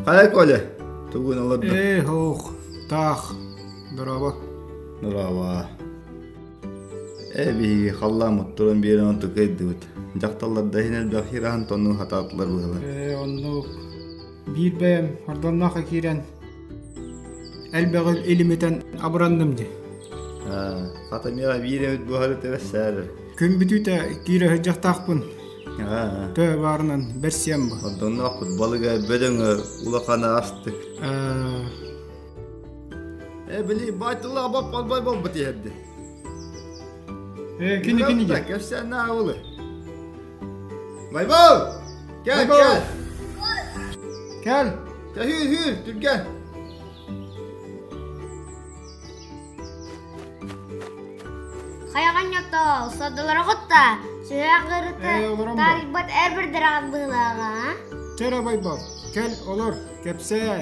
Хайа, Коля, тугун олордо? Ээ, ох, таах, дорооба. Дорооба. Э, биһиги халлааммыт туран биэрэн онту кыйдыбыт. Дьахталлар да иһин элбэх хираһан тоннун хатаатылар быһылар. Ээ, оннук. биир бэйэм ордонноохо киирэн элбэҕи илимитэн абыранным дии хата миэхэ биир эбит буһары тэбэссээрэр күн бүтүүтэ киирэ сылдьахтаахпын төө баарынан бэрсиэм бу ордонноохпут балыга бөдөҥө улахана астык э били байтыллаах боп полбой болбут иһэрди э кини кини кэпсээн наабылы Байбал! Кэл, Байбал! кэл! Кэл! Кэһүүр, үһүүр, түргэн! Хайаҕанньоттоол, сордулары кутта! Сүһэҕырыта таарыйбат эр бір дараҕан быылааҕа. Кэрэ Байбал, кэл олор, кэпсээ!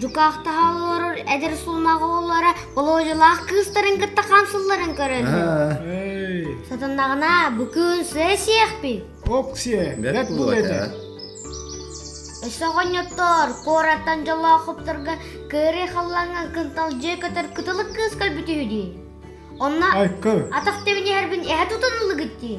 дьукаахтаһа олорор эдэр сулмах оҕолоро Володялаах кыыстарын кытта хамсылларын көрөн сатаннаҕына бу күн сыа Оксия, бэрт була Өссө оҕонньоттор куораттан дьолоохопторго кыырый халлаҥҥа кынтал дьиэ көтөр кытылык кыыс көрбүт үһү дии онно атах тэбин иһэрбин эһэ тутан ылыгыт дии